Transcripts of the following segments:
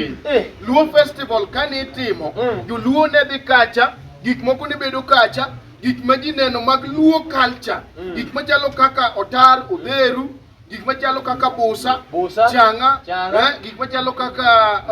Eh. Luo festival kane itimo, mm. joluo ne dhi kacha, gik moko ne bedo kacha, gik ma ji neno mag luo culture, mm. gik machalo kaka otar, odheru, gik machalo kaka busa, busa changa, changa. Eh, gik machalo kaka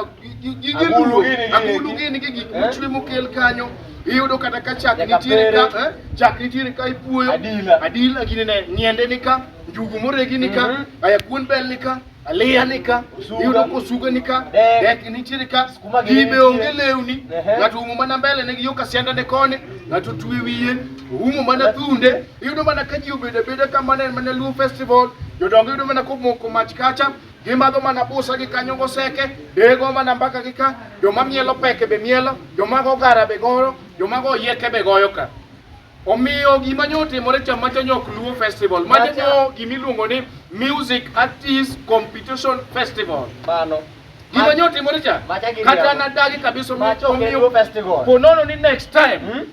gige luo, agulu gini gi gik eh? mochwe mokel kanyo iyudo kata ka chak nitiere ka eh? chak nitiere ka ipuoyo adila, adila gini ne ng'iende ni ka njugu moregi ni ka mm -hmm. aya kuon bel ni ka alianika yudo kosuga nika dek nitiere ka gibe onge lewni ng'ato umo mana mbele ne yo kasianda ne kone ng'ato twe wiye umo mana thunde iyudo mana ka ji obedo abeda ka mana mana Luo festival jodongo yudo mana komoko mach kacha gimadho mana busa gi kanyo goseke dego mana mbaka gi ka joma mielo peke be mielo joma go gara be goro joma go yeke be goyo ka Omiyo gima nyo otimore cha macha nyok Luo Festival. Macha nyo gima iluongo ni Music Artist Competition Festival. Mano. Gima nyo otimore cha. Kata na dagi kabisa omiyo festival. Ponono ni next time. Hmm?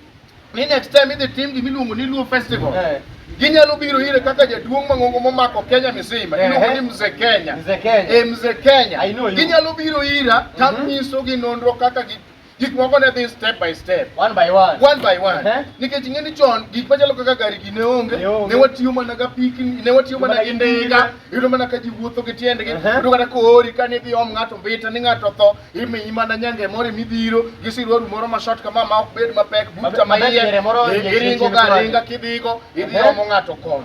Ni next time idhi tim gima iluongo ni Luo Festival. Eh. Ginyalo biro ire kaka jaduong' mang'ongo momako Kenya misima. Eh, iluongo ni eh. Mzee Kenya. Mzee Kenya. Eh, Mzee Kenya. Ginyalo biro ira tanyiso mm-hmm. gi nonro kaka gi gik moko ne dhi step by step one by one one by one uh -huh. nikech ing'e ni chon gik machalo kaka gari gi ne onge ne watiyo mana ga piki ne watiyo mana gi ndiga yudo mana ka ji wuotho gi tiendgi uh-huh. yudo kata koori ka ni dhi om ng'ato mbita ni ng'ato tho imiyi mana nyange moro midhiro gi siruaru moro ma short kama ma ok bed mapek buta ma iye iringo ga ringa kidhigo idhi uh-huh. omo ng'ato kono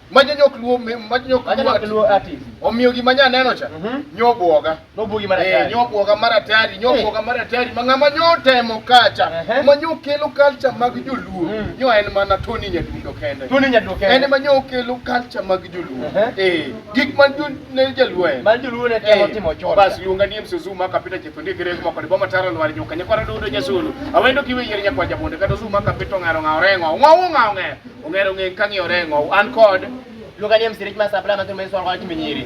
Majanyok luo me- majanyok Manyalo luo ati. luo artist. Omiyo gima nya neno cha Mhm. nyobuoga. Nobugi mara Eh, tayari. nyobuoga mara tayari, nyobuoga mara tayari. Ma ng'ama nyo temo kacha, Ehe. ma nyo kelo culture mag joluo. Mm. Nyo en mana Tony Nyadundo kende. Tuni nyaduke. En ema nyo kelo culture mag joluo. Ehe. Eh, gik man jo ne jaluo en. Mali joluo ne temo Eh, timo chon. Bas luonga ni Msuzuma kapita chithundi kire kuma kod boma taro lwar nyoka nyakwara dudo nyasulu. Awendo kiwe yier nyakwa jabonde kata zuma kapito ngaro ngao rengo. Ngao ngao ng'e. Ong'ero ng'eng kang'iyo reng'o. An kod. Luonga ni msirich ma sapla ma thum en swal kwa timi nyiri.